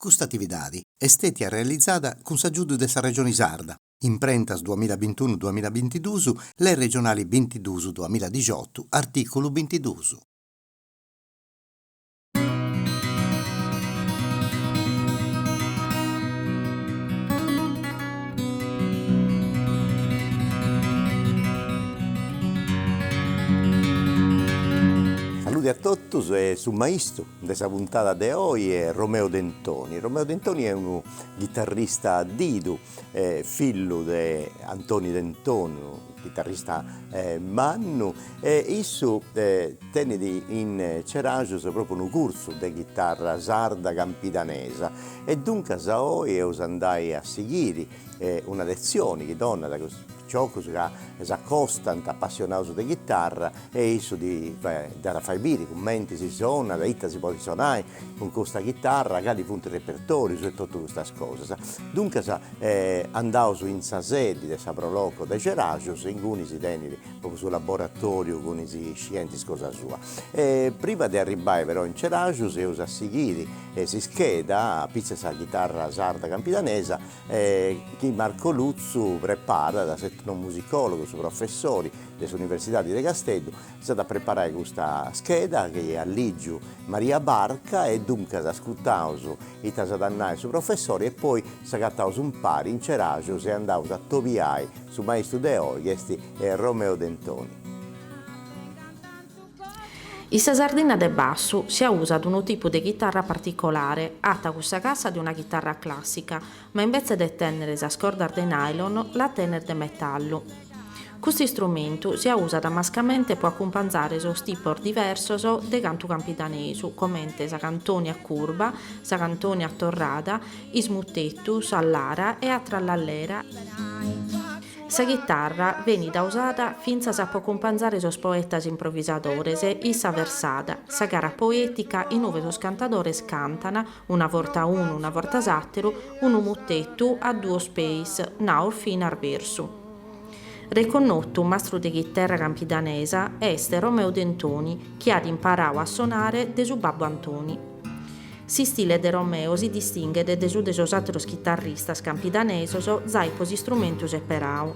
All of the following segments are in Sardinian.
Custa atividadi est stètia realizada cun s'agiudu de sa Regioni Sarda, imprentas duamilla bintunu duamilla bintiduus, Lei Regionali bintiduus duamilla dixiotu, artìculu bintiduus. Saludi a totus e su maistu. de sa puntada de oi est Romeo Dentoni. Romeo Dentoni est unu chitarrista didu, fillu de Antoni Dentoni, chitarrista mannu e issu tenit in Ceraxus propriu unu cursu de chitarra sarda campidanesa e duncas oi eus a andai a sighiri una letzioni chi donat cun is picioccus ca s'accostant apassionaus de chitarra e issu ddis at a fai biri cumenti si sonat e ita si podit sonai cun custa chitarra cali funt is repertorius e totu custas cosas duncas andaus in sa sedi de sa Pro Loco de Ceraxus inguni si tenit propriu su laboratoriu cun is scientis cosa sua e prima de arribbai però in Ceraxus eus a sighiri sa scheda apitzus 'e sa chitarra sarda campidanesa chi Marco Lutzu preparat, s'etnomusicòlogu, su professori de s'Universidadi de Casteddu, s'at preparau custa scheda chi at a ligi Maria Barca e duncas ascutaus ita s'at a nai su professori e poi s'agataus umpari in Ceraxus e andaus a atobiai su maistu de oi chi est Romeo Dentoni. In sa Sardinna de bassu si ausat unu tipu de chitarra particolare, fata cun sa cassa de una chitarra clàssica, ma imbetzes de tènnere sas cordas de nylon las tenet de metallu. Custu istrumentu si ausat mascamente pro acumpanzare sos tipos diversos de cantu campidanesu, comente sa cantoni a curba, sa cantoni a torrada, is mutetus, a lara e a trallallera, Sa chitarra benit ausada fintzas pro acumpanzare sos poetas improvisadores in sa versada, sa gara poetica inue sos cantadores cantan, una vorta unu una vorta s'ateru, unu mutetu a duos peis, nau finas versu. Reconnotu mastru de chitarra campidanesa est Romeo Dentoni chi at imparau a sonare de su babbu Antoni. S'istile de Romeo si distinghet de su de sos àteros chitarristas campidanesos zai pro s'istrumentu seperadu.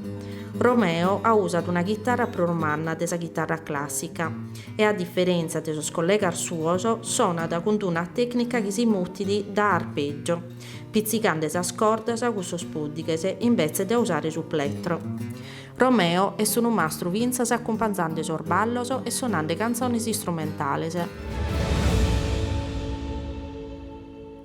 Romeo ausat una chitarra prus manna de sa chitarra clàssica e, a diferèntzia de sos collegas suos, sonat cun d-una tècnica chi si mutit de arpègiu, pitzicande sas cordas cun sos pùddighes imbetzes de ausare su plettro. Romeo est unu mastru fintzas acumpanzande sos ballos e sonande cantzones istrumentales.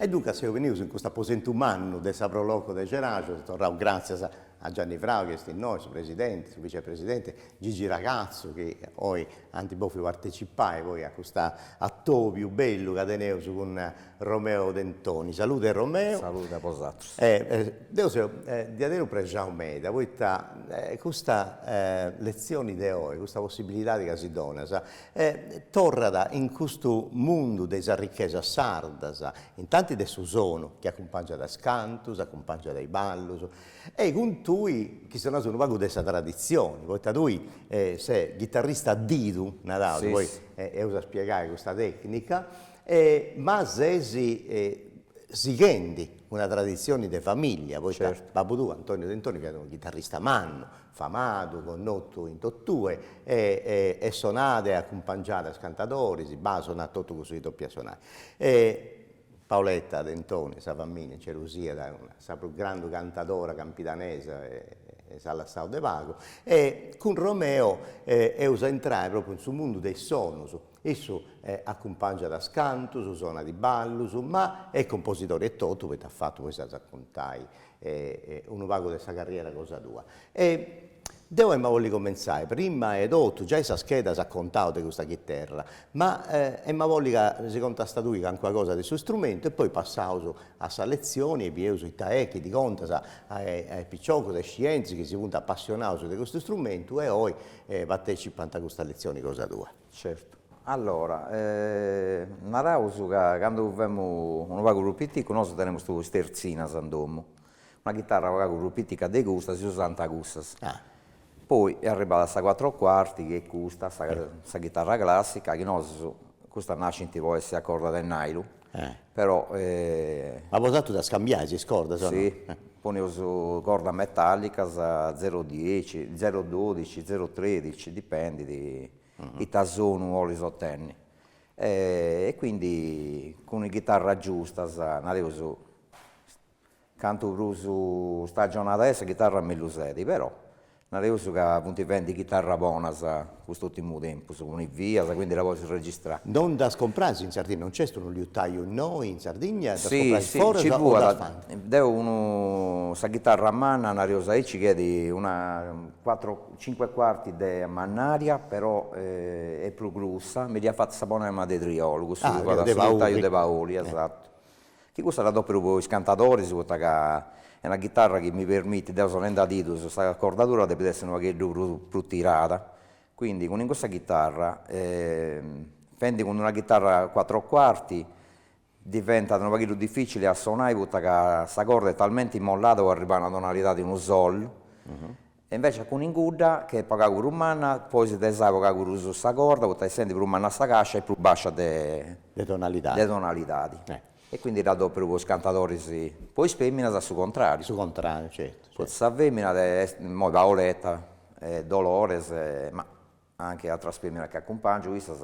E duncas seus benidos in custu aposentu mannu de sa Pro Loco de Ceraxus, seus torrados gràtzias a Gianni Frau chi est innoi, su presidente, su vicepresidente, Gigi Ragatzu chi oi ant bòfiu partecipai poi a custu atobiu bellu ca teneus cun Romeo Dentoni, salude Romeo. Salude a bosatrus. E deo seu diaderus prexau meda poita custa letzioni de oi, custa possibilidadi ca si donas, torrat in custu mundu de is arrichesas sardas, intanti de su sonu chi acumpangiat is cantus, acumpangiat is ballus, e cun tui chi si naus unu pagu de sa traditzioni, poita tui ses ghitarrista a didu, naraus, poi eus a spiegai custa tecnica ma ses sighendi una traditzione de familia poita babbu tuu Antonio Dentoni fiat unu chitarrista mannu, famadu, connotu in totue e e sonàt e acumpangiàt is cantadoris, ma sonàt totu cussu chi depiat sonai e Paoletta Dentoni sa familia in cerus fiat sa prus grandu cantadora campidanesa e e s'at lassau de pagu e cun Romeo eus a intrai propriu in su mundu de is sonus Issu acumpangiat a cantus, sonat ballus, ma est cumposidori etotu poita at fatu, poi s'as a contai, unu pagu de sa carriera cosa tua. E deu emu a bolli cumentzai, prima 'e totu, giai sa scheda s'at contau de custa chiterra, ma emu a bolli ca si contastas tui calincuna cosa de su strumentu e poi passaus a sa letzioni e bieus ita est chi ddi contas a a is piciocus, a is scientis chi si funt apassionaus de custu strumentu e oi partetzipant a custa letzioni cosa tua. Certu. Allora, naraus ca candu femus unu pagu prus piticus, nosu tenemus is tertzinas in domu, una chitarra unu pagu prus pitica de custa, si usànt cussas. Poi est arribada sa cuatro cuarti chi est custa, sa chitarra classica, chi nosu, custas nascint po essi a corda de nailon Però. Ma bosatrus ddas cambiais is cordas o no? Si, poneus cordas metallicas, zero dieci, zero dodici, zero tredici, dipendit ita sonu 'olis otenni. E quindi cun is ghitarras giustas naraus cantu prus stagionada est sa chitarra mellus est, però naraus ca funt fendi chitarras bonas cust'urtimu tempus, oindi', quindi la podis registrai. Non ddas comprais in Sardigna, non nc'est unu liutaiu innoi in Sardigna, ddas comprais foras o ddas fant? Deu tengu sa chitarra manna naraus aici chi est una cinque cuarti de mannaria, però est prus grussa, mi dd'iat fata sa bonànima de Triolu, cussu chi fait su liutaiu de Pauli esatto chi custa dda adoperu po is cantadoris poita ca est una chitarra chi mi permitit, deu sonendi a didus, sa cordadura depet esser unu pagheddu prus prus tirada, quindi cun in cussa chitarra fendi cun una chitarra quattro quarti diventat unu pagheddu difficili a sonai poita ca sa corda est talmenti immollada po arribbai a una tonalidadi, unu sol E invece cun in cudda, chi est pagu pagu prus manna, podis tesai pagu pagu prus sa corda, poita essendi prus manna sa cascia est prus bascia de. De tonalidadi. De tonalidadi. E quindi dda adoperu po is cantadoris, po is feminas a su contrariu. Su contrariu, certu. Poita sa femina est, immoi Paoletta, Dolores, ma. anche atras feminas chi acumpangiu issas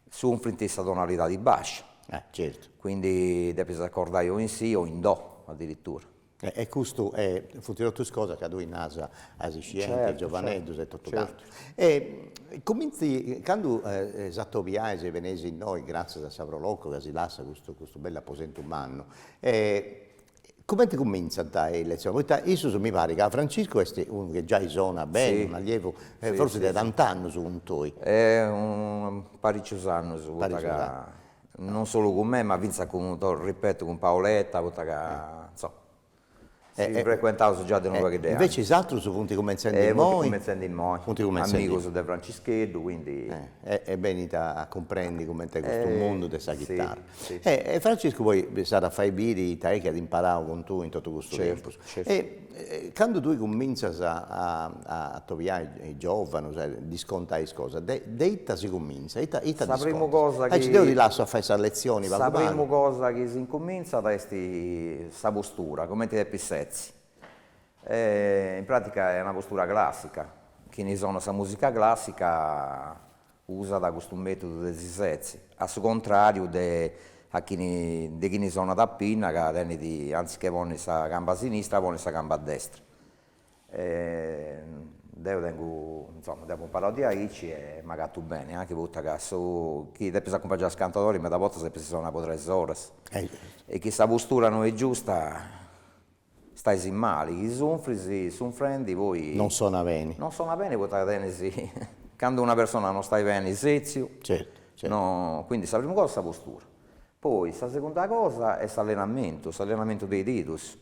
sunfrint sa tonalidadi bascia certu quindi depis accordai o in si o in do addirittura. E custu funt totus cosas ca tui naras as iscienti giovaneddus e totu cantu e cuminzi candu s'atobiais e beneis innoi gratzias a sa Pro Loco ca si lassat custu bellu aposentu mannu e Cumenti cumintzant is letzionis, poita issus mi parit ca Franciscu est unu chi giai sonat beni, unu allievu, forsis de tant'annus cun tui. Unu paricius annus, poita ca non solu cun mei ma fintzas cun, ti ripeto, cun Paoletta, poita ca insoma si frecuentaus già de unu pagu de annus. Invecias is atrus funt cumentzendi imoi. Funt cumentzendi imoi. Funt cumentzendi. Amigus de Francischeddu, quindi. E benint a cumprendi cumenti est custu mundu de sa chitarra. E Franciscu poi s'at a fai biri ita est chi at imparau cun tui in totu custu tempus. E candu tui cumintzas a atobiai is giovanus e ddis contai is cosas, de de ita si cumintzat, ita ita ddis contas. Aici deu ti lassu a fai sa letzioni pagu pagu. Sa primu cosa chi s'incumintzat est sa postura, cumenti depis setzi. E in pratica est una postura classica, chini sonat sa musica classica, usat custu mètodu de si setzi, a su contràriu de a chini de chini sonat a pinna ca tenit anziché ponni sa camba sinistra ponit sa camba destra e deu tengu insoma deu apo imparau de aici e m'agatu beni, anchi poita ca su chi depis acumpangiai is cantadoris meda bortas depis sonai po tres oras e chi sa postura no est giusta Stais mali chi sunfris sunfrendi poi Non sona beni. Non sona beni poita tenis candu una persona non stait beni setziu Certu certu. no quindi sa primu cosa sa postura poi sa segunda cosa est s'allenamentu s'allenamentu de is didus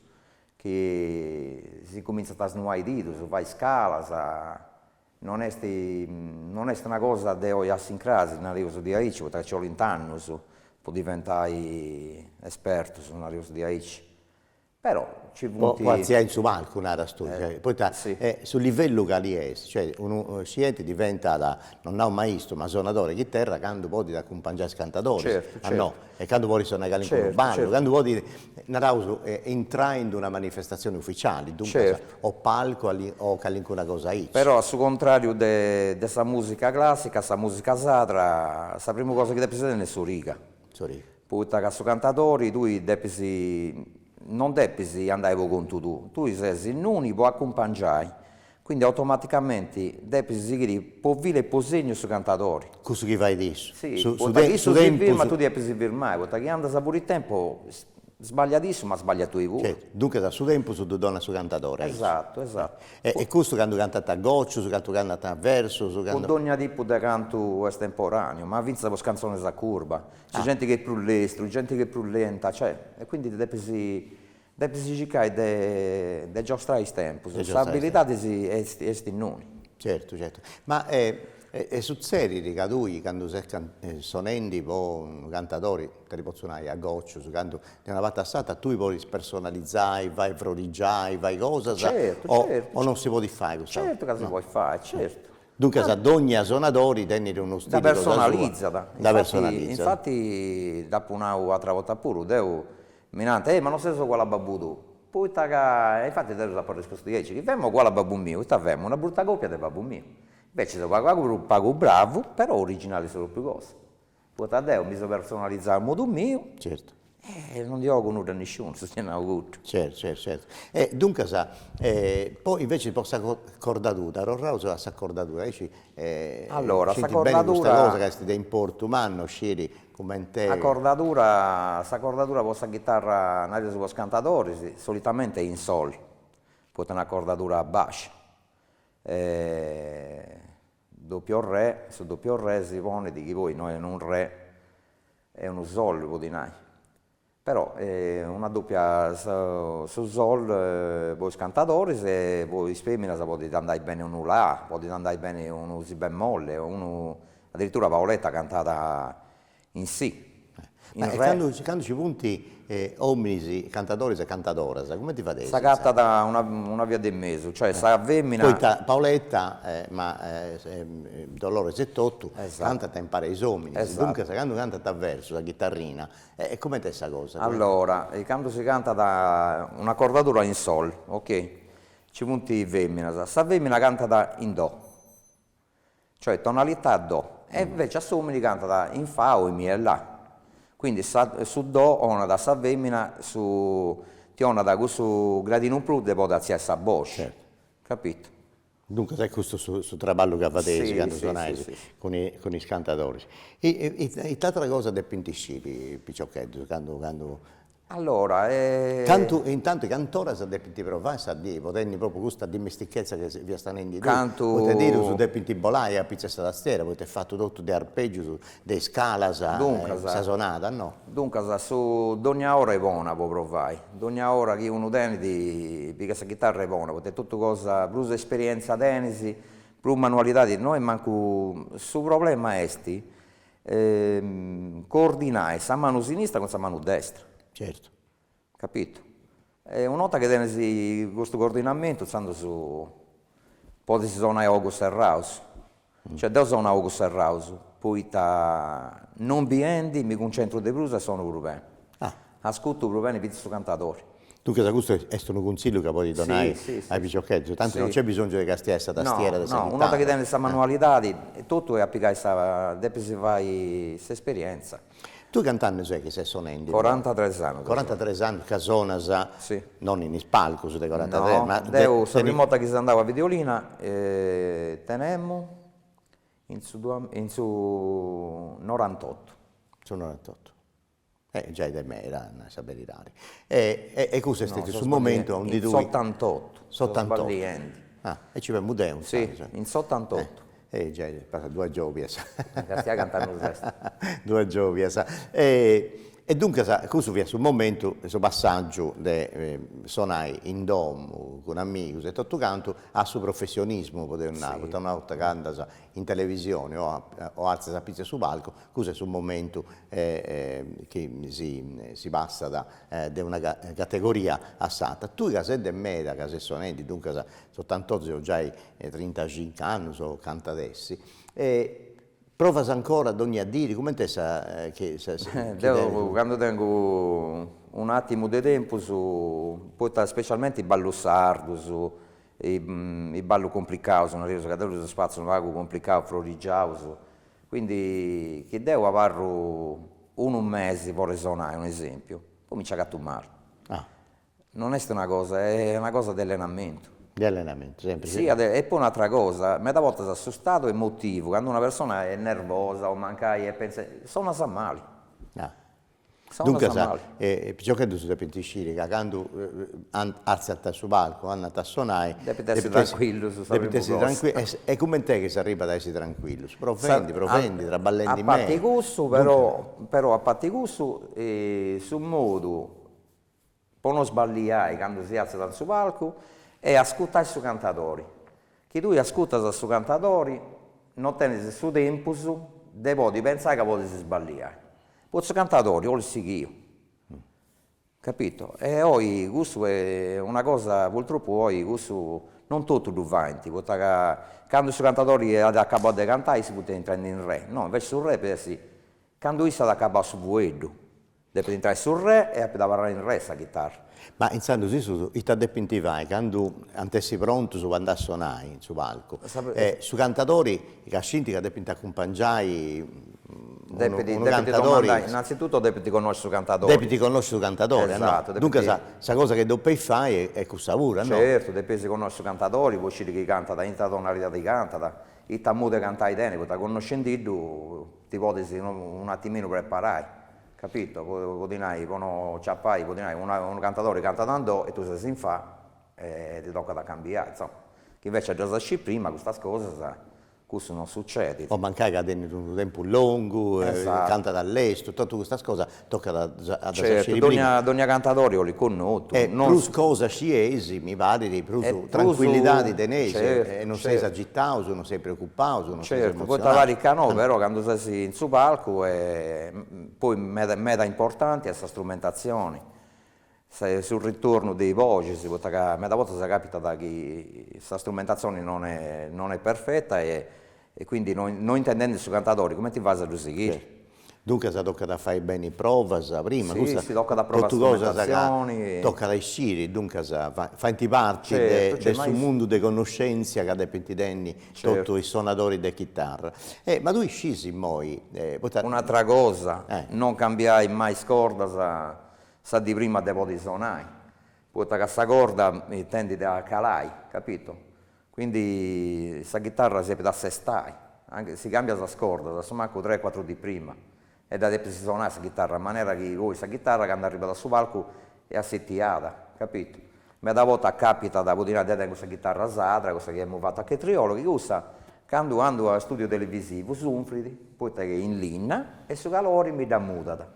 chi si incumintzant a snuai is didus fai scalas non est non est una cosa de oi a s'incras nareus diaici poita ca nci olint annus po diventai espertus nareus diaici Però ci funt. Po artziai in su palcu naras tui, cioè, poita su livellu cali est, cioè unu scienti diventat, non nau maistu, ma sonadore de chitarra candu podit acumpangiai is cantadoris, a no, e candu podit sonai calincunu ballu, candu podit, naraus, intrai in d'una manifestatzioni uficiali, duncas, o palcu o calincuna cosa aici. Però a su contrariu de de sa musica classica, sa musica sadra, sa primu cosa chi depis tenni est s'origa poita ca su cantadori tui depis non depis andai po contu tuu, tui ses innuni po acumpangiai, quindi automaticamenti depis sighiri po filu e po segnu su cantadori. Cussu chi fait issu. Si, poita chi issu si firmat tui ti depis firmai, poita chi andas fuori tempu Sbagliat issu ma sbaglias tui puru. Duncas a su tempus ddu donat su cantadori. Esatu, esatu. E custu candu cantant a gocius, candu cantant a versus, candu. Po dogna tipu de cantu estemporaneu, ma fintzas po is cantzones a curba, c'est genti chi est prus lestru, genti chi est prus lenta, cioè, e quindi depis depis circai de de giostrai is tempus, s'abilidadi est innui. Certu, certu. Ma e e sutzedit ca tui candu ses sonendu po unu cantadori Ita ti potzu nai, a gocius, candu de una parti a s'atra tui podis personalizai, fai frorigius, fai cosas, Certu, certu, o non si podit fai custa cosa, Certu ca si podit fai, certu. Duncas dogna sonadori tenit unu stili cosa sua, dda personalizas, dda personalizas, infati dd'apu nau atra 'orta puru, deu, mi nant, ehi ma non ses oguali a babbu tuu, poita ca, e infati deu ddus apu arrispostu diaici, chi femu oguali a babbu miu, ita femu, una bruta copia de babbu miu, inveci seu pagu pagu pagu bravu, però originali su propriu Poita deu mi seu personalizau a modu miu e non ndi 'ogu nudda a nisciunu, si est nau custu. Certu certu certu, e duncas po invece po sa cordadura, torraus a sa cordadura, aici scieus beni custa cosa ca est de importu mannu sciri cumenti. Sa cordadura, sa cordadura po sa chitarra, nareus po is cantadoris, solitamente in sol, poita est una cordadura bascia Doppio re, su doppio re si ponet chi poi no est unu re, est unu sol po ti nai, però una doppia su sol po is cantadoris e po is feminas podit andai beni unu la, podit andai beni unu si bemolle, unu, addirittura Paoletta cantat In si, in re. E candu ci funt ominis cantadoris e cantadoras cumenti fadeis? S'agatat una via de mesu, cioè sa femina. Poita Paoletta ma Dolores etotu cantant impari a is ominis, duncas candu cantant a versus a chitarrina e cumenti est sa cosa? Allora candu si cantat una cordadura in sol, ok, ci funt feminas, sa femina cantat in do. cioè tonalità do, e invece a s'omini cantat in fa o in mi e la, quindi sa su do 'onat a sa femina su ti 'onat cussu gradinu in prus de podi atziai sa boci, capito. Duncas est custu su su traballu ca fadeis candu sonais cun i cun is cantadoris. Ita ita ita atera cosa depint sciri is piciocheddus candu candu Allora e. Cantu e intantu cant'oras depint provai sa die, po tenni propriu custa dimestichezza ca fiast nendi tui, Cantu. poita is didus depint bolai a pitzu 'e sa tastiera, poita est fatu totu de arpeggius, de iscalas, Duncas. sa sonada no. Duncas su dogna ora est bona po provai, dogna ora chi unu tenit pigat sa chitarra est bona, poita totu cosa prus esperienza tenis, prus manualidadi no est mancu, su problema est E coordinai sa manu sinistra cun sa manu destra. Certu. Capitu. E una 'orta chi tenis custu coordinamentu intzandus podis sonai a ogus serraus. Cioè deo sono a ogus serraus, poita non biendi mi cuncentru de prus e sono prus beni. Ah Ascutu prus beni fintzas su cantadori. Duncas custu est unu cuntzillu ca podis donai a is piciocheddus, tanti non nc'est bisongiu de castiai sa tastiera de sa chitara. No, no, una 'orta chi tenit sa manualidadi totu est a pigai sa, depis fai s'esperientza. Tui cant'annus est chi ses sonendi? Corantatres annus. Corantatres annus ca sonas, non in is palcus de corantatres, ma. No, deu sa primu 'orta chi seu andau a Videolina tenemu in su in su norantottu. In su norantottu. E giai de meda a nai sa beridadi. E e custu est su momentu aundi. S'otantottu. S'otantottu. Sbagliendi. Ah e ci femus deu insaras. Si, in s'otantottu. E giai est passada duas giobias. Gasi a cant'annus est. Duas giobias. E duncas cussu fiat su momentu, su passaggiu de sonai in domu cun amigus e totu cantu a su professionismu, podeus nai, poita una 'orta ca andas in televisioni o o alzas a pitzu 'e su palcu Cussu est su momentu chi si passat de una categoria a s'atra. Tui ca ses de meda, ca ses sonendi, duncas s'otantottu giai trintacincu annus o cant'at essi, provas ancora dònnia diri, cumenti est sa chi ses Deo cando tengu un'àtimu de tempus, poita specialmente is ballus sardus, is ballus cumplicaus, nareus ca deo ddus fatzu unu pagu cumplicaus, frorigiaus, Quindi chi deo abarru unu mesi fora 'e sonai, un'esempiu, poi mi nci agatu mali. Non est una cosa, est una cosa de allenamentu. De allenamentu, sempre. Si e poi un'atra cosa, meda bortas su stadu emotivu, cando una persona est nervosa o mancai e pentzat, sonas mali. Duncas, is piciocheddus depint isciri ca candu artzant a su palcu, andant a sonai, depint essi trancuillus sa primu cosa, e cument'est chi s'arribat a essi trancuillus, provendi, provendi, traballendi meda. A parti cussu però, però a parti cussu su modu po no sballiai candu si artzat in su palcu est ascutai su cantadori, chi tui ascutas a su cantadori no tenis su tempus de podi pentzai ca podis sballiai, poita su cantadori olit sighiu, capito, e oi cussu est una cosa, purtroppu oi cussu non totu ddu faint, poita ca candu su cantadori at acabau de cantai issus funt intrend'in re, no invece su re, po essi, candu issu at acabau su fueddu Depit intrai su Re e apoi abarrai in Re sa chitarra. Ma intzandus issus ita depint fai candu ant essi prontus po andai a sonai in su palcu? E su cantadori ca scint ca depint acumpangiai unu unu cantadori. Depint innanzitutto depint connosci su cantadori. Depint connosci su cantadori. Esatto. Duncas sa cosa chi depint fai est cussa puru o no? Certu, depis connosci su cantadori po sciri chi cantat, in ita tonalidadi cantat, ita modu 'e cantai tenit, poita connoscendiddu ti podes un'atiminu preparai, capito, po ti nai, po no ciapai, po ti nai, unu cantadori cantat in do e tui ses in fa e ti tocat a cambiai, insomma, chi invece ddas iscis prima custas cosas, cussu non sucedit. O mancai ca tenit unu tempus longu e cantat a lestu, totu custas cosas Tocat a ddas sciri prima. Certu, dònnia, dònnia cantadori olit connotu. E prus cosas scieis, mi parit, prus E prus trancuillidadi teneis e Certu, e non seis certu. agitaus, non seis preocupaus, non seis Certu, poita emotzionaus. parit ca no, però candu ses in su palcu, poi meda meda importanti est sa strumentatzioni, su ritornu de is boxes poita ca meda bortas capitat chi sa strumentatzioni non est non est perfeta e e quindi no no intendendi su cantadori cumenti fais a ddu sighiri. Duncas tocat a fai beni provas prima, custa totu cosas ca tocat a isciri, duncas faint parti de su mundu de connoscenzia ca depint tenni totu is sonadoris de chitarra. Ma tui scis immoi, poita. Un'atra cosa, non cambiai mai is cordas Sa di prima de podi sonai, poita ca sa corda tendit a calai, capito, quindi sa chitarra si depit assestai, anche si cambias is cordas, a su mancu tres cuatru di prima, e dda depis sonai sa chitarra, a manera chi poi sa chitarra candu arribat a su palcu est assitiada, capito. Meda bortas capitat, po ti nai, deo tengu sa chitarra sarda, cussa chi emu fatu a Chetriolo, chi cussa candu andu a studio televisivu sunfrit, poita ca est in linna e su calori mi dda mudat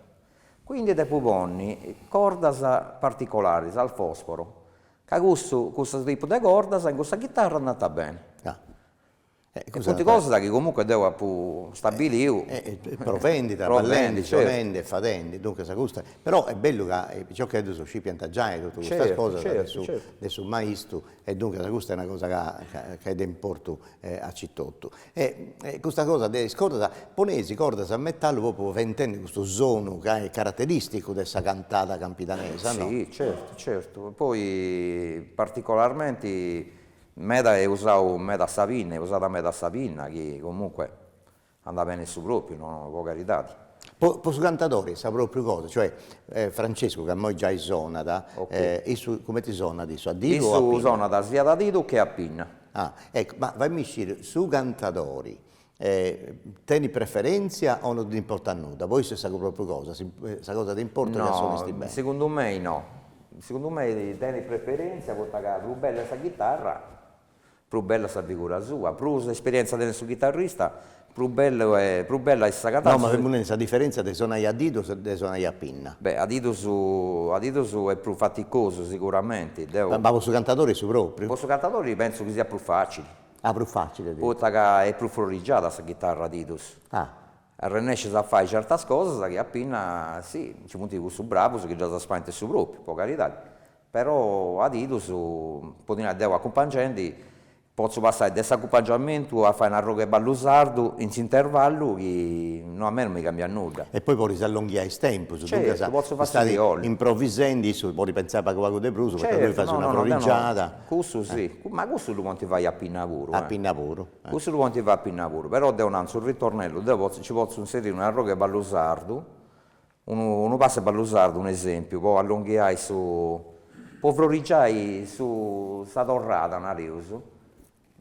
Quindi depu ponni cordas particolaris al fosforo ca cussu cussu tipu de cordas in cussa chitarra andant beni. E funt cosas chi comunque deo apu stabiliu provendi, a ballendi sonendi e fadendi, duncas custa, però est bellu ca is piciocheddus scipiant giai totu custas cosas de su maistu E duncas custa est una cosa ca ca ca est de importu a chistotu e e custa cosa de is cordas, poneis is cordas a metallu propriu fait intendi custu sonu ca est carateristicu de sa cantada campidanesa no? Si certu certu, poi particolarmenti meda est usau meda sa pinna, est usada meda sa pinna chi comunque Andat bene su propriu, no po caridadi. Po po su cantadori sa propriu cosa, cioè Francescu ca immoi giai sonat, issu cumenti sonat issu, a didu o a pinna? Issu sonat siat a didu che a pinna. Ah, eccu, ma fai-mì sciri, su cantadori tenit preferentzia o no nd'importat nudda, po issu est sa propriu cosa, sa cosa de importu est ca sonit beni? No, segundu mei no, segundu mei tenit preferentzia poita ca prus bella est sa chitarra prus bella sa figura sua, prus esperienza tenet su chitarrista, prus bellu e prus bella est sa cantada. No ma seus nendi sa diferentzia de sonai a didu e de sonai a pinna. Beh a didus a didus est prus faticosu siguramenti, deo. Ma po su cantadori est su propriu? Po su cantadori pentzu chi siat prus facili. Ah prus facili. Poita ca est prus frorrigiada sa chitarra a didus. Ah. Arrennescius a fai certas cosas chi a pinna si, nci funt cussus bravus chi ddas faint su propriu, po caridadi, Però a didus, po ti nai deo acumpangendi, potzo passai de s'acumpangiamentu a fai un'arroghe 'e ballu sardu in s'intervallu chi no a mei non mi cambiat nudda. E poi podis allonghiai is tempus, duncas est improvisendi, issu podit pentzai pagu pagu de prus, poita tui fais una frorigiada. Cussu si, ma cussu ddu podint fai a pinna puru. A pinna puru. Cussu ddu podint fai a pinna puru, però deu nau, in su ritornellu, deu potzu nci potzu inseriri un'arroghe 'e ballu sardu, Unu pass'e ballu sardu, unu esèmpiu, po allonghiai su, po frorigiai su, sa torrada, nareus,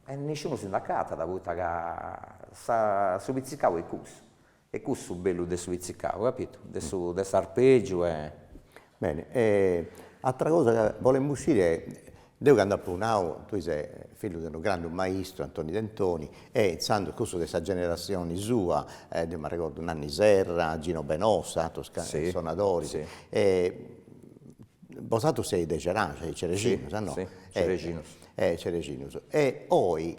e nisciunu si nd'acatat poita ca sa, su pitzicau est cussu, est cussu su bellu de su pitzicau, capitu, de su, de s'arpègiu e. Bene, e, atra cosa ca bolemu sciri Deu cando apo nau, tui ses fillu de unu grandu maistu Antoni Dentoni e intzandus cussus de sa generasioni sua, deu m'arregordu Nanni Serra, Gino Benossa, atrus sonadoris, bosatrus seis de Ceraxes, cerexinus no? Cerexinus. Cerexinus e oi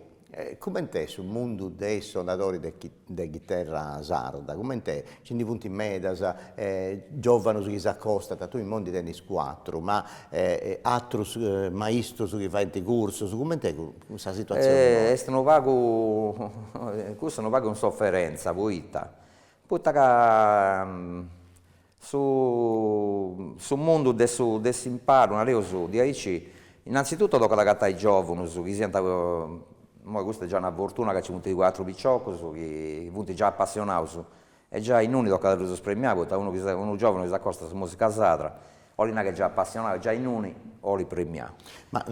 coment'est su mundu de is sonadoris de chi de chiterra sarda, coment'est, nci ndi funt medas giovanus chi s'acostant, tui imoi ndi tenis cuatru, ma atrus maistus chi faint cursus, coment'est sa situatzione est unu pagu, cussa est unu pagu in soferentza poita, poita ca Su su mundu de su de s'imparu, nareus diaici, innantzituto tocat a agatai giòvunus chi siant, imoi custa est già una fortuna ca nci funt cuatru piciocus chi funt già apassionaus e già innui tocat a ddus premiai poita unu giòvunu chi s'acostat a sa musica sarda 'olit nai chi est già apassionau e già innui 'olit premiau. Ma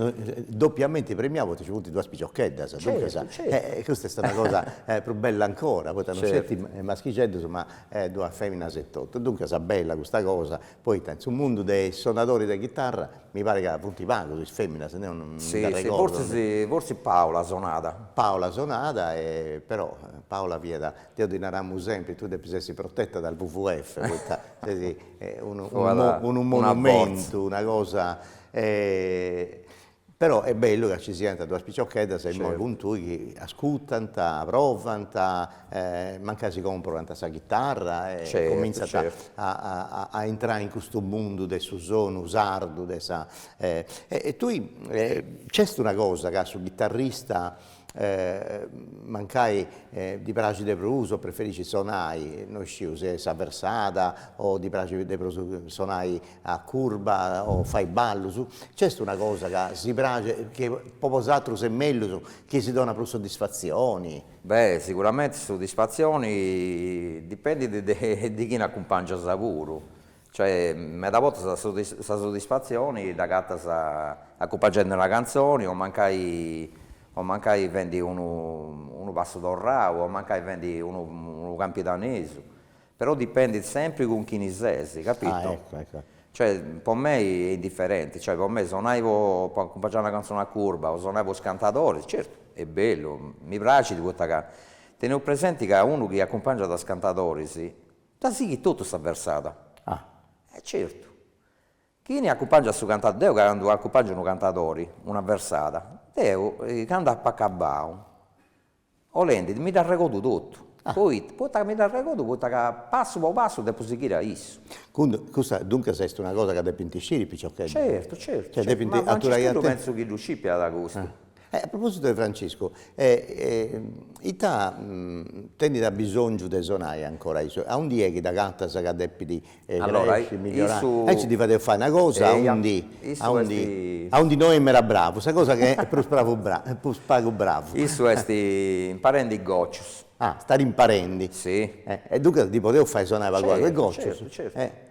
dopiamenti premiau poita nci funt duas piciocheddas, duncas, e custa est una cosa prus bella ancora poita non sceti maschixeddus ma e duas feminas etotu, duncas bella custa cosa, poita in su mundu de is sonadoris de chitarra mi parit ca funt pagus is feminas, deu non nd'arregordu, si si forsis Paola sonat, Paola sonat e però Paola fiat, deu ddi naramus sempri, tui depis essi protetta dal WWF poita est unu monumentu, una cosa Però est bellu ca ci siant duas piciocheddas imoi cun tui chi ascutant, provant, mancai si comporant sa chitarra e comintzant a intrai in custu mundu de su sonu sardu de sa e tui nc'est una cosa ca su chitarrista mancai ddi praxit de prus o preferiscit sonai, no isciu, si sa versada o ddi praxit de prus sonai a curba o fai ballus, nc'est una cosa ca si praxit, chi po bosatrus est mellus, chi si donat prus soddisfatzioni? Beh siguramente soddisfatzioni dipendit de chini acumpangias puru Cioè, meda bortas sa soddisfatzioni dd'agatas acumpangendi una cantzoni o mancai o mancai fendi unu unu passu torrau o mancai fendi unu unu campidanesu, però dipendit sempri cun chini ses, capito. Ah ecco ecco. Cioè, po mei est indifferenti, cioè po mei sonai po po acumpangiai una cantzoni a curba o sonai po is cantadoris, certu, est bellu, mi praxit poita ca, teneus presenti ca unu chi acumpangiat is cantadoris Dda sighit totu sa versada. Ah. E certu. Chini acumpangiat su cantadori, deu candu acumpangiu unu cantadori, una versada, deu candu apu acabau, 'olendit, mi dd'arregodu totu. Ah. Poita, poita ca mi dd'arregodu, poita ca passu po passu depu sighiri a issu. Cun- custa duncas est una cosa ca depint sciri is piciocheddus. Certu, certu, certu, ma Francischeddu pentzu chi ddu scipiat custu. E a propositu 'e Franciscu, e ita tenit abisongiu de sonai ancora issu, a undi est chi dd'agatas ca depit cresci, migliorare, aici ddi fadeus fai una cosa a undi a undi a undi no est meda bravu, sa cosa chi est prus pravu prus pagu bravu. Issu est imparendi gocius. Ah, est imparendi. Si. E duncas ddi podeus fai sonai pagu pagu e gocius. Certu, certu, certu.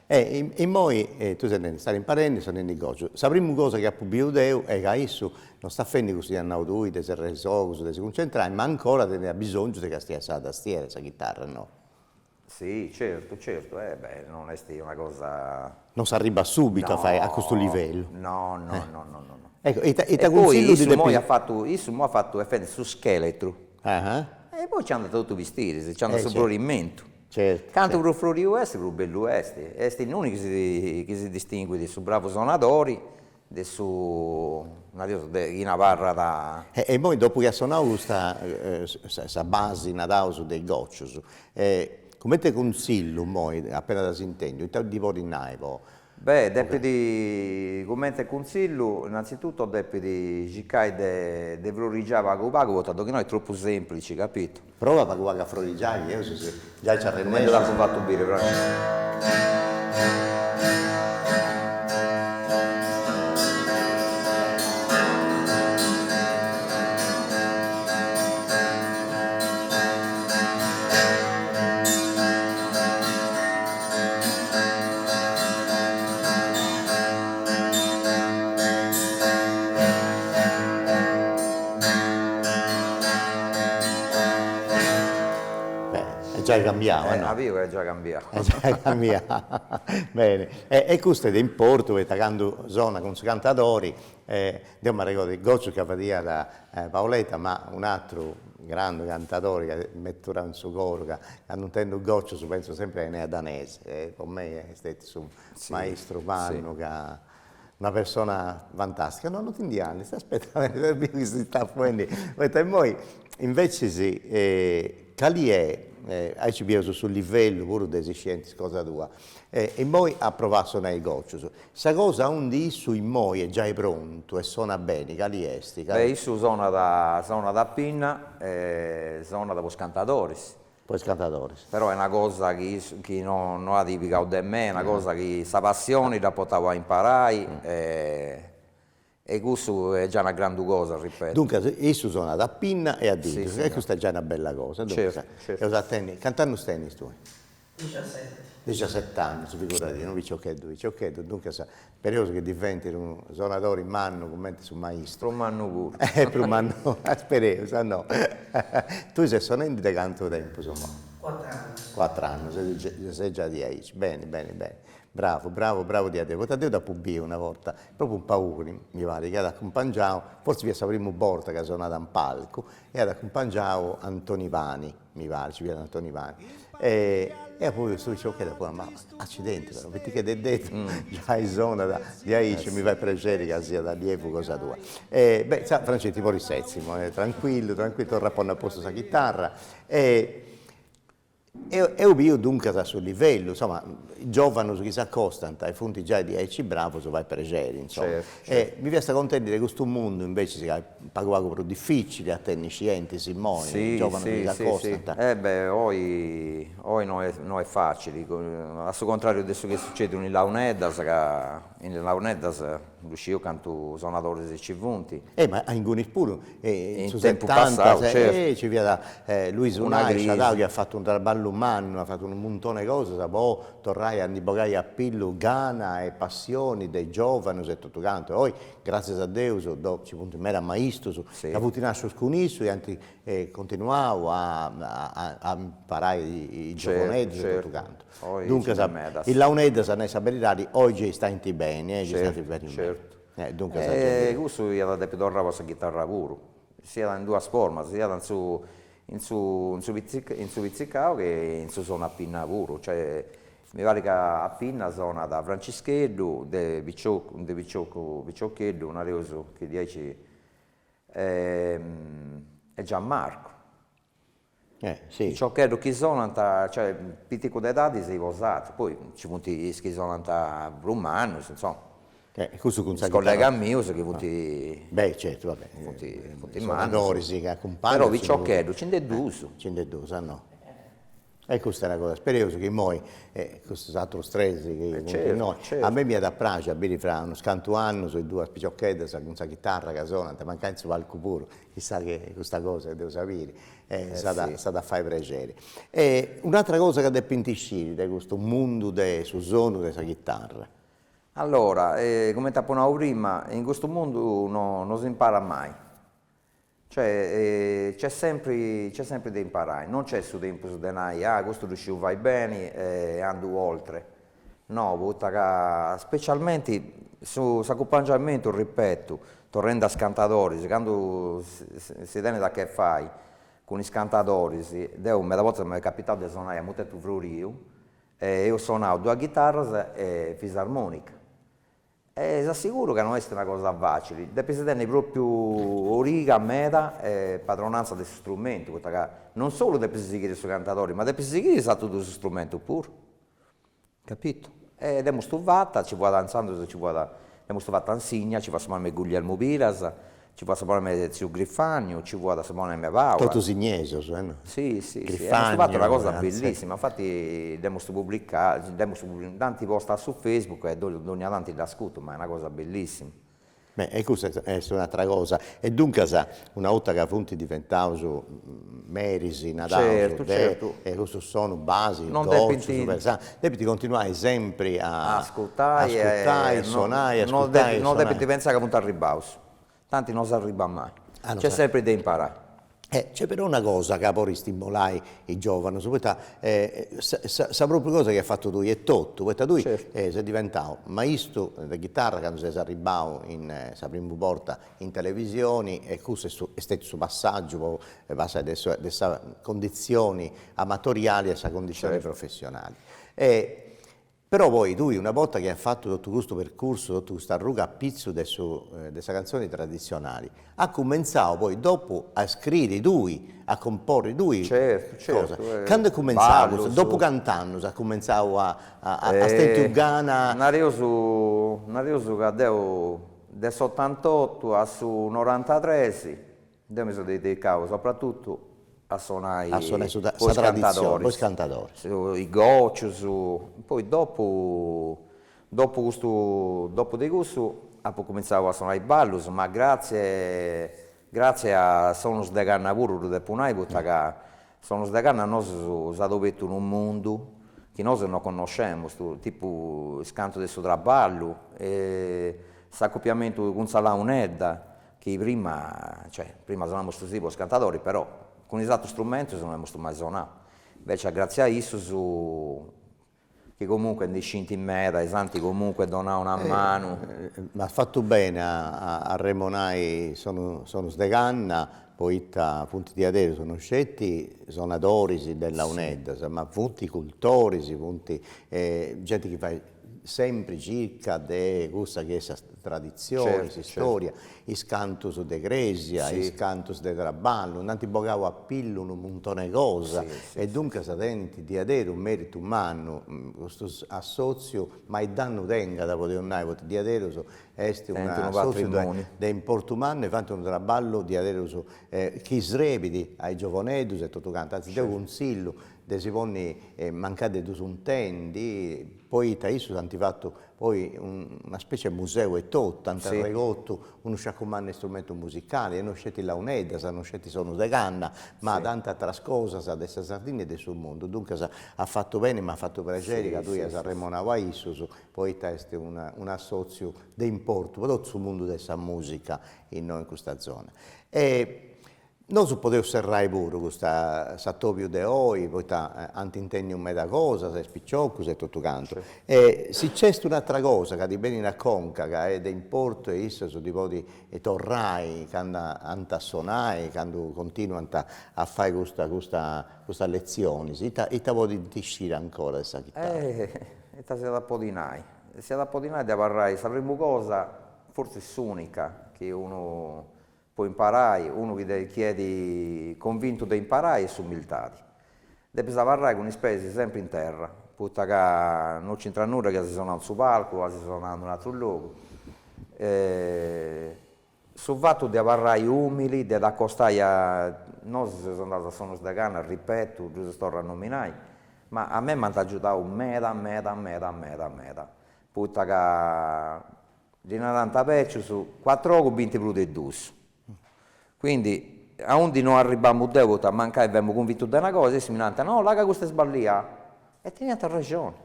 E immoi tu ses nendi, ses imparendi, sonendi gocius. Sa primu cosa chi apu biu deu est ca issu no stat fendi cussu chi at nau tui de serrai is ogus, de si cuncentrai, ma ancora teniat bisongiu de castiai sa tastiera e sa chitarra, no? Si, certu, certu, e beh, non est una cosa. Non s'arribat subitu a fai a custu livellu. No, no, no, no, no, no. Ecco, ita ita E po cunsillu ddi issu immoi at depis. fatu, issu immoi at fatu est fendi su scheletru, Ah, e poi nci andat totu is bistiris, nci andat su frorimentu. Certu. Cantu prus floriu est prus bellu est, est innui chi si chi si distinguit su bravu sonadori de su naraus de chi naràt. E e immoi dopu chi at sonau custa sa sa basi naraus de is gocius, cumenti cunsillu immoi, apenas dd'as intendiu, ita ddi podis nai po Beh, depit, cumenti e cuntzillu, innanzitutto depit circai de de frorigiai pagu pagu, poita de chi no est tropu semplici, capitu. Prova pagu pagu a frorigiai, chi bieus si giai ci arrennescis. Cumenti t'apu fatu biri, Francesca. Est giai cambiau, no? As biu est giai cambiau. Est giai cambiau, beni. E custu est de importu poita candu sonat cun is cantadoris Deu m'arregordu is gocius ca fadiat Paoletta, ma un'atru grandu cantadori ca m'aturat in su coru ca candu intendu gocius pentzu sempri a Enea Danesi e po mei est stetiu su maistru mannu ca una persona fantastica, no non ti nd'andis, aspetta aspetta biu chi si stat fuendi, poita immoi invecis cali est, aici bieus su livellu puru de su scienti cosa tua E immoi at provau a sonai gocius. Sa cosa aundi issu immoi est giai prontu e sonat beni, cali est? Beh, issu sonat, sonat a pinna e sonat po is cantadoris. Po is cantadoris. Però est una cosa chi issu, chi no no at pigau de mei, est una cosa chi sa passioni dd'at portau a imparai e E cussu est già una grandu cosa, ripeto. Duncas, issu sonat a pinna e a didus, e custa est già una bella cosa. Duncas, eus a tenni, cant'annus tenis tui? Dexiaseti. Dexiaseti annus, figuradì, unu piciocheddu piciocheddu, duncas, spereus chi diventit unu sonadori mannu cumenti su maistru. Prus mannu puru. E prus mannu, spereus, no. Tui ses sonendi de cantu tempus? Cuatr'annus. Cuatr'annus, e ses già diaici, beni beni beni. Bravu bravu bravu diaderus poita deu dd'apu biu una borta propriu in Pauli mi parit chi at acumpangiau fortzis fiat sa primu borta chi at sonau in palcu e at acumpangiau Antoni Pani mi parit si fiat Antoni Pani e apu biu ch'est ma accidenti però fit che de detu giai sonat diaici mi fait prexeri ca siat allievu cosa tua e beh Francescu poi setzi·tì imoi e tranquillu tranquillu torra a ponni a postu sa chitarra e E apu biu duncas a su livellu, insoma, giovanos chi s'acostant e funt giai diaici bravos fait prexeri, insoma. E mi fiast contendi de custu mundu invecis ca est pagu pagu prus dificili a tenni scientis immoi, giovanos chi s'acostant. E beh, oi oi no est no est facili, a su contrariu de su chi est sucediu in is launeddas ca in is launeddas ddu sciu cantu sonadoris ci funt. E ma a ingunis puru in su setanta ci fiat Luisu Lai chi at fatu unu traballu mannu, at fatu unu muntoni 'e cosas po torrai a ndi bogai a pillu gana e passioni de giovanus e totu cantu, oi gratzias a Deus ci funt medas maistus ca funt nascius cun issu e ant continuau a imparai is giovuneddus e totu cantu Duncas, is launeddas, a nai sa beridadi, oi gei stant beni, e istant beni meda. Certu. Duncas a gei. E cussu iat a depi torrai po sa chitarra puru. Siat in duas formas, siat in su in su in su in su pitzicau che in su sonu a pinna puru, cioè mi parit ca a pinna sonat Francischeddu de piciocu de piciocu piciocheddu nareus chi diaici e Giammarcu piciocheddus chi sonant cioè piticus de edadi dd'as postu, poi nci funt is chi sonant prus mannus insoma, is collegas mius chi funt funt mannus, però piciocheddus nci nd'est duus. Nci nd'est duus, no. E custa est una cosa, spereus chi imoi custus atrus tres chi funt innoi, a mei m'iat a praxi a biri fra unus cantu annus is duas picioccheddas cun sa chitarra chi sonant, mancai in su palcu puru Chissà chi custa cosa deu dd'ap'a biri e s'at a fai prexeri. E un'atra cosa ca depint isciri de custu mundu de su sonu de sa chitarra. Allora, comente apo nau prima, in custu mundu no no s'imparat mai, cioè nc'est sempri nc'est sempri de imparai, non nc'est su tempus de nai, ah custu ddu sciu fai beni e andu oltre No, poita ca specialmenti su s'acumpangiamentu, ripeto, torrende a is cantadoris, candu si tenet a che fai cun is cantadoris, deo meda bortas m'est capitau de sonai a mutetu froriu e eus sonau duas ghitarras e fisarmonica E s'asseguru ca no est una cosa facili, depis tenni propriu origa meda e padronanza de su strumentu, poita ca non solu depis sighiri su cantadori, ma depis sighiri is atrus duus strumentus puru, capitu, e dd'emustu fata, nci fuat intzandus nci fuat, dd'emustu fata in Sìnnia, nci fuat su bonànima 'e Guglielmu Piras, Ci fuat su bonànima de tziu Grifagnu, ci fuat su bonànima 'e Paula. Totu sinniesus eh no. Si si si, amus fatu una cosa bellissima, infati dd'emus publicada, dd'emus dd'ant posta a su Facebook e dogna tanti dd'ascurtu, ma est una cosa bellissima. Beh e custa est est un'atera cosa, e duncas una 'orta ca funt diventaus meris nareus de custu sonu basi depint continuai sempri a ascurtai e sonai e ascurtai e sonai. No depint pentzai ca funt arribaus. tanti non s'arribbat mai, c'est sempre de imparai. E c'est però una cosa ca po istimolai is giovanus, poita sa sa propriu cosa chi as fatu tui etotu, poita tui ses diventau maistu de chitarra candu ses arribbau in sa primu borta in televisioni e cussu est est stetiu su passaggiu po passai de sa de sa condizioni amatoriali a sa condizioni professionali e Però poi tui una borta chi as fatu totu custu percursu, totu custa arruga a pitzu de su de sa cantzoni traditzionali, as cumentzau poi dopu a scriri tui, a comporri tui cosas. Candu est cumentzau custu, dopu cant'annus as cumentzau a as tentu gana? Nareus nareus ca deu de s'otantotu a su norantatres Deu mi seu dedicau sopratutu a sonai a sonai su po is cantadoris, po is cantadoris, is gocius, poi dopu dopu custu dopu de cussu apu cumintzau a sonai ballus, ma gratzie gratzie a Sonus de Canna puru ddu depu nai poita ca Sonus de Canna a nosu s'at obertu unu mundu chi nosu no connoscemus, tipu is cantus de su traballu, s'acopiamentu cun sa launedda chi prima, cioè, prima sonamustu po is cantadoris, però cun is atrus strumentus no emustu mai sonau, invece gratzias a issus chi comunque ndi scint meda e s'ant comunque donau una manu. Ma as fatu beni a arremonai Sonus Sonus de Canna, poita funt diaderus no sceti sonadoris de launeddas, ma funt cultoris, funt genti chi fait sempri circa de cussa chi est sa traditzioni, s'istòria, is cantus de crèsia, is cantus de traballu, nd'ant bogau a pillu unu muntone 'e cosa e duncas tenint diaderus mèritu mannu custu assòtziu, mai dannu tengat podeus nai, poita diaderus est un'assòtziu de importu mannu e faint unu traballu diaderus chi srebit a is giovonedus e totu cantu, antzis deu cunzillu de si ponni mancai de dus intendi, poita issus ant fatu poi una specie 'e museu etotu, ant arregotu unu sciacu mannu 'e istrumentus musicali e no sceti launeddas, no sceti sonus de canna, ma tanti ateras cosas de sa Sardigna e de su mundu, duncas at fatu beni, m'at fatu prexeri ca tui ias arremonau a issus, poita est un'assotziu de importu po totu su mundu de sa musica innoi in custa zona. Nosu podeus serrai puru custa s'atobiu de oi poita ant intendiu meda cosas is piciocus e totu cantu e si cest un'atra cosa ca ti benit a conca ca est de importu e issus ddi podit torrai candu ant a sonai candu continuant a fai custa custa custas letzionis ita ita podint sciri ancora de sa chitarra. Ita si iat a podi nai, si iat a podi nai de abarrai sa primu cosa fortzis s'unica chi unu po imparai, unu chi de chi est convintu de imparai est s'umiltadi, depis abarrai cun is peis sempri in terra, poita ca no nci intrat nudda chi as sonau in su palcu o as sonau in un'atru logu, su fatu de abarrai umili, de t'acostai a, nosu seus andaus a sonus de canna, ripetu, ddus seus torra a nominai, ma a mei m'ant agiudau meda meda meda meda meda, poita ca Ddi narant is bècius, cuatru ogus bint prus de dus. Quindi, aundi no arribamu deu poita mancai femu cunvintu de una cosa, e si mi narant, no, la' ca custa est sballiada. E teniant arrexoni.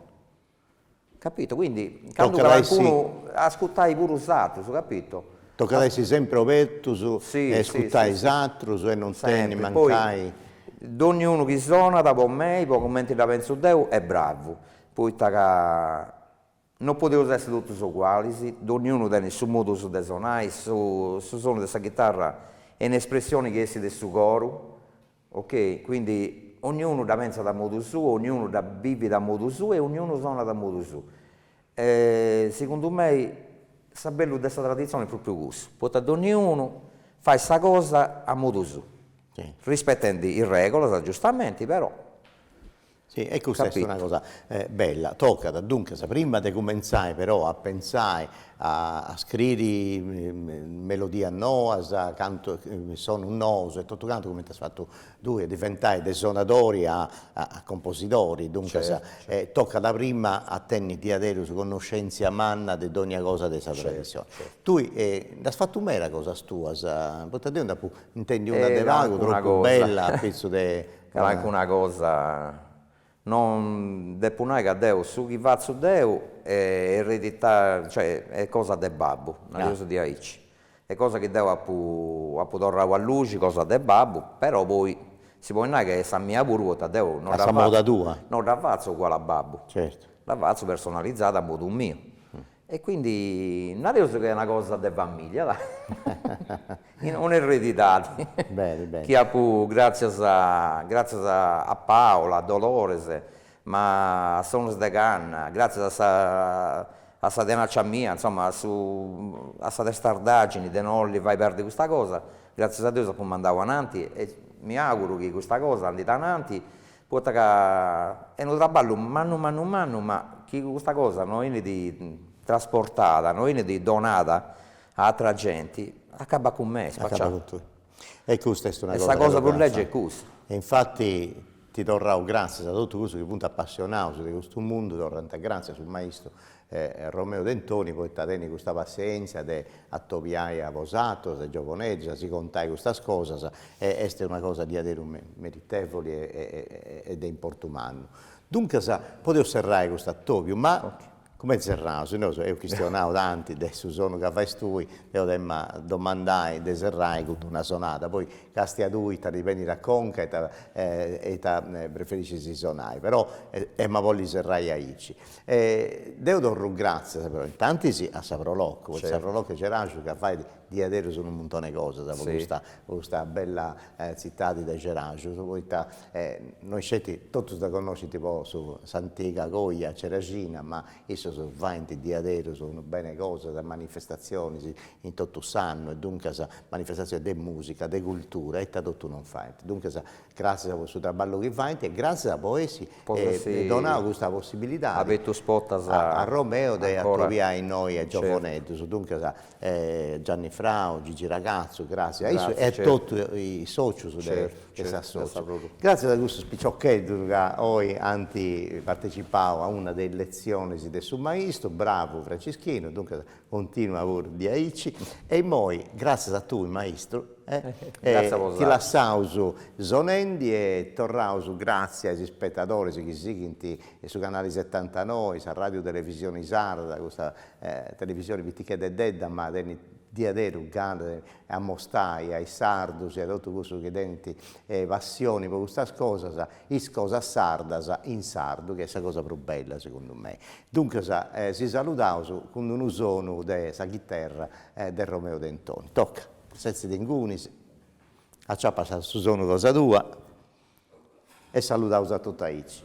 Capito, quindi, candu calincunu, ascutai puru is atrus, capito. Tocat a essi sempri obertus e ascutai is atrus e non tenni mancai. Donniunu chi sonat po mei, po cumenti dda pentzu deu, est bravu, poita ca No podeus essi totus ogualis, donniunu tenit su modu suu de sonai, su sonu de sa chitarra est un'espressioni chi essit de su coru, ok, quindi onniunu dda pentzat a modu suu, onniunu dda bivit a modu suu e onniunu sonat a modu suu. Segundu mei su bellu de sa traditzioni est propriu cussu, poita donniunu fait sa cosa a modu suu, rispetendi is regulas giustamenti però Si, e custa est una cosa bella. Tocat, duncas, prima de cumentzai però a pentzai a a scriri melodias noas, cantus, sonus nous e totu cantu, cumenti as fatu tui, a diventai de sonadori a a composidori, duncas, tocat prima a tenni diaderus connoscèntzia manna de dònnia cosa de sa tradissioni. Tui nd'as fatu meda cosas tuas, poita deu nd'apu intendiu una de pagu tropu bella a pitzus de Calancuna cosa no depu nai ca deu su chi fatzu deu e ereditau cioè est cosa de babbu, neus diaici, est cosa chi deu apu apu torrau a luxi cosa de babbu, però poi si podit nai ca est sa mia puru poita deu no no dda fatzu uguali a babbu, dda fatzu personalizada a modu miu E quindi nareus chi est una cosa de familia, dai, un'eredidadi chi apu gratzias gratzias a Paula, a Dolores, ma a Sonus de Canna, gratzias a sa a sa tenaccia mia, insomma a su a sa testardagini de no li fai perdi custa cosa, gratzias a Deus apu mandau ananti e mi auguru chi custa cosa andit ananti Poita ca est unu traballu mannu mannu mannu ma chi custa cosa no 'enit trasportada, no 'enit donada a atra genti, acabat cun me, spacià. E custa est una cosa. E sa cosa prus lègia est custa. E infati deu torru gràtzias a totu cussus chi funt apassionaus de custu mundu, torrant gràtzias a su maistu E Romeo Dentoni poita tenit custa passienzia de atobiai a bosatos is giovonedus a si contai custas cosas e est una cosa diaderus meritevoli e de importu mannu. Duncas podeus serrai custu atobiu ma cumenti serraus, si nosu eus chistionau tanti de su sonu ca fais tui, deu t'em'a domandai de serrai cun una sonada, poi castia tui ita ti benit a conca e ita preferiscis sonai, però em'a bolli serrai aici. E deu torru gratzias però intantis a sa Pro Loco, poita sa Pro Loco 'e Ceraxu ca fait diaderus unu muntone 'e cosas po custa po custa bella tzitadi de Ceraxu, poita no isceti, totus dda connoschint po s'antiga coja ceraxina, ma issos faint diaderus unu bene 'e cosas, manifestatzionis in totu s'annu e duncas manifestatzionis de musica, de cultura e ita totu non faint, duncas Gràssias po su traballu chi faint e gràssias po essi donau custa possibilidadi a Romeo de atobiai innoi a giovonedus, duncas Gianni Frau, Gigi Ragazzu, gràssias a issu e a totu is socius de s'associu. Gràssias a custus piciocheddus ca oi ant partecipau a una de is letzionis de su maistu, bravu Francischinu, duncas Continua puru diaici. E immoi, gràtzias a tui maistru, ti lassaus sonendi e torraus gràtzias a is ispetadoris chi sighint su canali setantanoi, sa ràdiu televisioni sarda, custa televisioni pitichededdedda ma tenit diaderus gana de amostai a is sardus e a totus cussus chi tenint passioni po custas cosas is cosas sardas in sardu chi est sa cosa prus bella segundu mei. Duncas si saludaus cun unu sonu de sa chiterra de Romeo Dentoni. Toca, setzi·tinci, aciapas su sonu cosa tua e saludaus a totus aici.